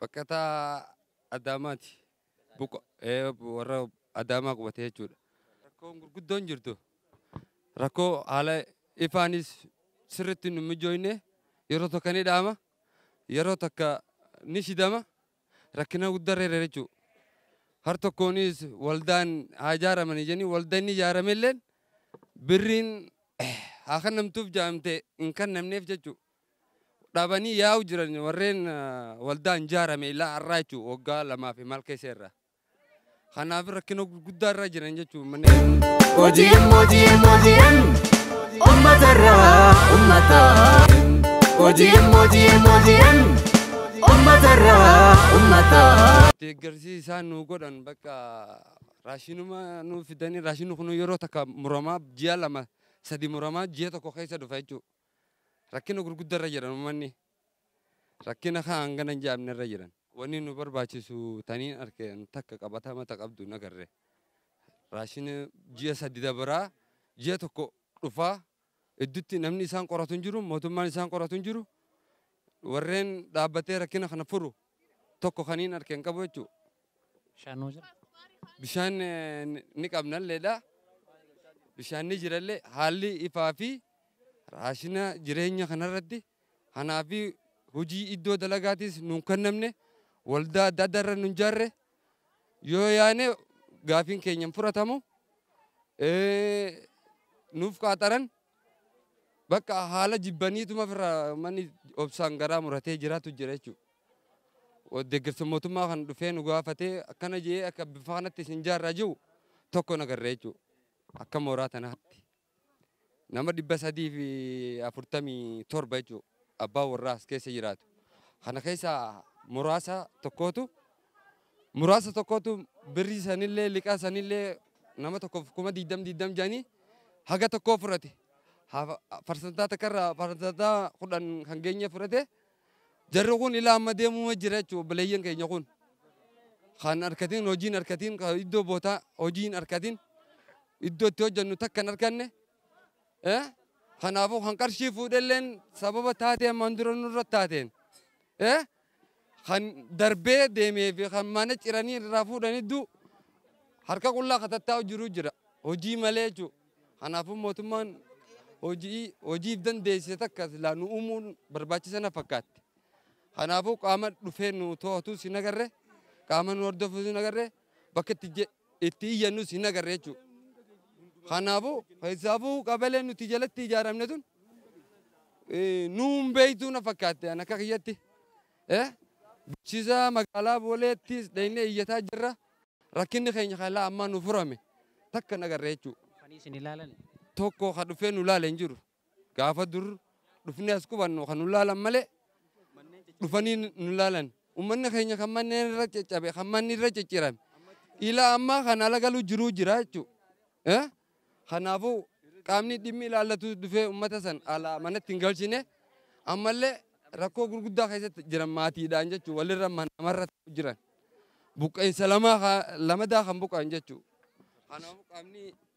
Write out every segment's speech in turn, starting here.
Baqataa Adaamaati. Warra Adaamaa qubate jechuudha. Rakkoon gurguddoon jirtu rakkoo haala ifaanis sirriitti nu mijooyne yeroo tokko ni dhaama yeroo takka ni shidama rakkina guddaa reera jechuu har tokkoonis waldaan haa ijaaramanii jenii walda inni ijaaramelleen birriin haa kannamtuuf jaamte hin kannamneef jechuudha. dhabanii yaa'u jiran warreen waldaa hin jaarame ilaa har'aa jechuun waggaa lamaa fi maal keessa irra. Kanaaf rakkina gurguddaa irra jiran jechuun manneen. OGM OGM OGM ummata irraa ummata. OGM OGM OGM ummata irraa ummata. Deeggarsi isaan nu godhan bakka raashinuma nu fidanii raashinni kun yeroo takka muramaa ji'a lama sadi muramaa ji'a tokko keessa dhufa jechuudha. Rakkina gurgudda irra jiran ummanni. Rakkina kaa hangana hin jaamne irra jiran. Wani nu barbaachisu taniin arke an takka qabatama ta qabdu hin agarre. Raashina ji'a sadi dabraa ji'a tokko dhufaa iddutti namni isaan qoratu hin jiru, mootummaan isaan qoratu hin jiru. Warreen dhaabbatee rakkina kana furu tokko kaniin arke hin qabu jechuu. Bishaan nuu jira? Bishaan ni qabnalleedha. Bishaan ni jirallee haalli ifaa fi raashina jireenya kanarratti hanaa fi hojii iddoo dalagaatiis nuun kennamne waldaa adda addaa irra nun jaarre yoo yaane gaafiin keenya hin furatamu. Nuuf qaaxaran Bakka haala jibbaniituma ofirraa manni obsaan garaa muratee jiraatu jira jechuudha. Deeggarsa mootummaa kan dhufee nu gaafatee akkana jee akka bifa kanatti isin jaarraa jiru tokko nagarree jechuudha. Akka mooraa tanaatti. Nama dhibba sadii fi afurtamii torba jechuudha. Abbaa warraa as keessa jiraatu. Kana keessaa muraasa tokkootu muraasa tokkotu birrii sanillee liqaa sanillee nama tokkoof kuma diigdam diigdam jedhanii haga tokkoo fudhate. Hafa- Parsantaa takkarraa parsantaa kudhan kan geenye fudhate. Jarri kun ilaa amma deemuma jira jechuudha obboleeyyan keenya kun. Kan harkatiin hojiin harkatiin kan iddoo bootaa hojiin harkatiin iddoo itti hojjennu takka hin arkanne. Eh? Kanaafuu kan qarshii fuudhelleen sababa taatee ammaan dura nurra taateen. Eh? Kan darbee deemee fi kan mana ciranii irraa fuudhanii du harka qullaa ka tattaa'u jiru jira. Hojii malee jechuudha. Kanaafuu mootummaan hojii hojiif dandeessise takka silaa nu uumuun barbaachisa na fakkaatti. Kanaafuu qaama dhufee nu to'atus hin agarre, qaama nu hordofuus hin agarre, bakka itti je- itti iyyannus hin agarre jechuudha. Kanaafuu keessaafuu qabeleen nuti jalatti ijaaramne tun nuun beektuu na fakkaatte an akka kiyyatti. Bulchiisa magaalaa Booleettis dhaqnee iyyataa jirra. Rakkinni keenya kan ilaa ammaa nu furame takka hin agarre jechuudha. Tokko kan dhufee nu ilaale hin jiru. Gaafa dur dhufnee as qubannu kan nu laalan malee dhufanii nu laalan. Ummanni keenya kan manneen irra caccabe, kan manni irra ciccirame. Ilaa ammaa kan ala galuu jiruu jira jechuudha. Eh? Kanaafuu qaamni dhimmi ilaallatu dhufee ummata san alaa manatti hin galchine ammallee rakkoo gurguddaa keessatti jiran maatiidhaan jechuudha. Walirra man- namarra ta'u jiran. Buqqa'insa lamaa ka- lamadaa kan buqqa'an jechuudha. Kanaafuu qaamni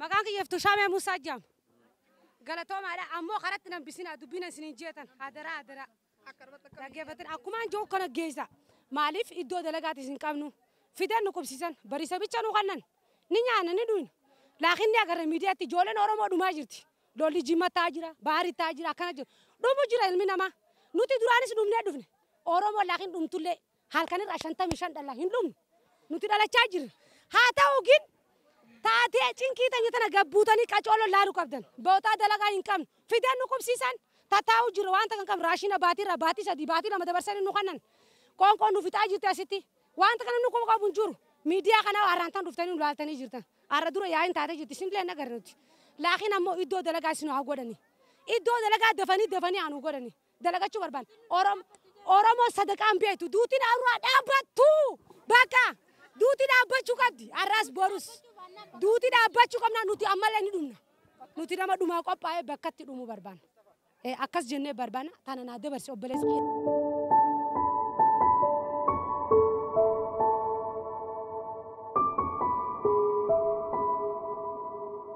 Maqaan kiyya Iftuu Shaamee Muusaa jedhama. Galatoomaadha. Ammoo karatti nan bisinaa dubbiin isiniin jeetan hadaraa hadaraa. Dhaggeeffattan akkumaan jiru kana geessa. Maaliif iddoo dalagaatis hin qabnu. Fidan nu qubsiisan bariisa bicha nu kannan ni nyaanna ni dhuyna. Laakiin ni agarra miidiyaatti ijoolleen Oromoo dhumaa jirti. Lolli jimma ta'aa jira, baari ta'aa jira akkana jira. Dhumu jira ilmi namaa. Nuti duraanis dhumnee dhufne. Oromoo laakiin dhumtullee Halkan irraa 55 dhala hin dhumne nuti dhalachaa jirra. Haa ta'u gin taatee cinkii tanya tana gabbuutanii qacoo lollaaru qabdan. Bootaa dalagaa hin qabnu. Fideen nu qubsiisan tataa'u jirra waan takka hin qabnu. Raashina baatii irraa baatii sadii baatii lama dabarsanii nu kannan. Qoonqoon nu fixaa jirti asitti. Wanta kana nu quba qabu hin jiru. Miidiyaa kana har'aan tan dhuftanii nu laaltanii jirtan. Har'a dura yaa'iin taatee jirti isinillee hin agarre nuti. Laakiin ammoo iddoo dalagaa isin haa godhanii. Iddoo dalagaa dafanii dafanii haa nu godhanii. dalagachuu barbaanna. Oromoon sadaqaa hin beektu. Duuti dhaabraa dhaabbattu! Bakka! Duuti dhaabbachuu qabdi. Har'as borus. Duuti dhaabbachuu qabna nuti ammallee ni dhumna. Nuti nama dhumaa qophaa'ee bakkatti dhumuu barbaanna. Eh, Akkas jennee barbaanna. Tana naa dabarsi obboleessi kiyya.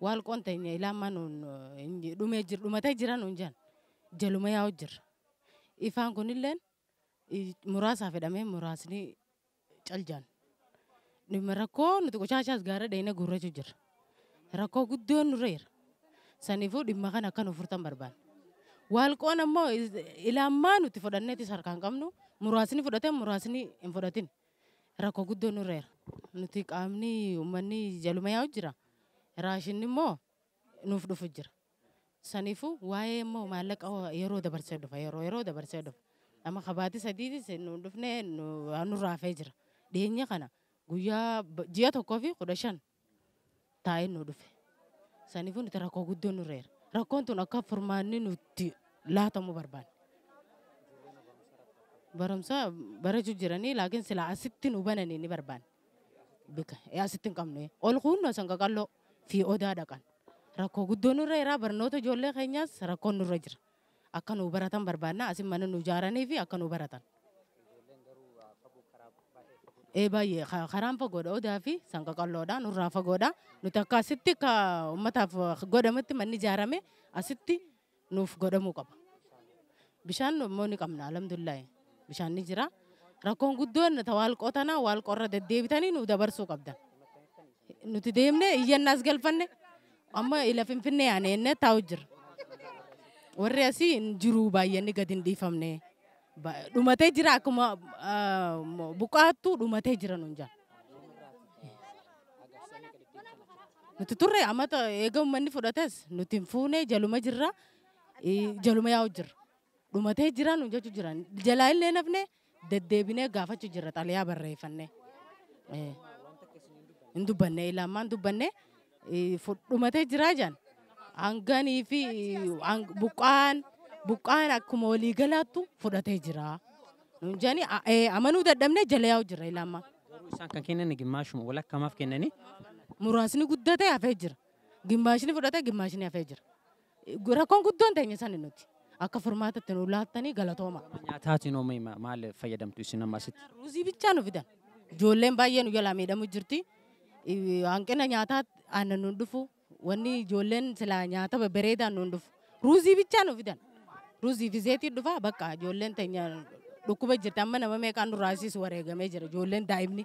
Waal qontenya ilaa amma nuun dhumee jir dhumatee jira nuun jan jaluma yaa'u jirra. Ifaan kunilleen muraasaa fedhamee muraasni cal jaan. Dhimma rakkoo nuti qoshaachaas gaara dheeyne guurrachuu jirra. Rakkoo guddoon nurra jira. Saniifuu dhimma kana akka nu furtan barbaanna. Waal qoon ammoo ilaa ammaa nuti fudhanneetis harkaan qabnu muraasni fudhatan muraasni hin fudhatin. Rakko guddoo nurra jira. Nuti qaamni ummanni jaluma yaa'u jira. Raashinni immoo nuuf dhufu jira. Saniifuu waa'ee immoo maallaqa yeroo dabarsee dhufa yeroo yeroo dabarsee dhufa. Amma kabaatii sadiitis nu dhufne nurraa hafee jira. Dhiyeenya kana guyyaa ji'a tokkoo fi kudha shan taa'ee nu dhufe. Saniifuu nuti rakkoo guddoo nurra jira. Rakkoon tun akka furmaanni nutti laatamu barbaanne. Barumsa barachuu jiranii laakiin silaa asitti nu bananii ni barbaanne. Bika ee asitti hin qabnu. Ol kuunnu asan qaqalloo fi odaa dhaqan. Rakkoo guddoo nurra jira barnoota ijoollee keenyaas rakkoon nurra jira. akka nuu baratan barbaadna. Asin mana nuu ijaaraniifi akka nuu baratan. Ee baay'ee karaan fagoodha odaa fi sanqaqalloodha nurraa fagoodha nuti akka asitti akka ummataaf godhamutti manni ijaarame asitti nuuf godhamuu qaba. Bishaan immoo ni qabna alhamdulillahi bishaan ni jira. Rakkoon guddoon ta waalqoo tana waalqoo irra deddeebitanii nuu dabarsuu qabdan. Nuti deemnee iyyannaas galfanne amma ila finfinnee yaane jennee taa'u jirra. Warri asii hin jiru baay'anni gadi hin dhiifamne. Ba- Dhumatee jira akkuma ah, mo- buqqaattu dhumatee jira nuun jaa. Nuti turre amata eega uummanni fudhates nuti hin fuune jaluma jirra eh, jaluma yaa'u jirra. Dhumatee jira nuun jechuu jiran jalaa illee nafne Deddeebinee gaafachu jirra xalayaa barreeffannee. Hin dubbanne ilaa ammaan dubbanne fudhumatee jiraa jedhan. Hanganii fi buqqaan buqqaan akkuma walii galaattu fudhatee jira. Nuun jedhani amanuu dadhabnee jala yaa'u jirra ilaa ammaa. Garuu isaan kan kennan gimmaashuma walakkamaaf kennanii. Muraasni guddatee hafee jira. Gimmaashni fudhatee gimmaashni hafee jira. Rakkoon guddoon teenya sani nuti. Akka furmaata itti nuu laattanii galatooma. Gama nyaataatiin hoo mee ma- maal fayyadamtu isin amma asitti? Nyaata ruuzii bichaa nu fidan. Ijoolleen baay'ee nu jalaa miidhamu jirti. I- Hanqina nyaataa aannan nuun dhufu. Wanni ijoolleen silaa nyaata babbareedaan nuun dhufu. Ruuzii bichaa nu fidan. Ruuzii fi zeetii dhufa bakka ijoolleen teenya dhukkuba jirti. Amma nama meeqaan nurraa asiis wareegamee jira ijoolleen daa'imni.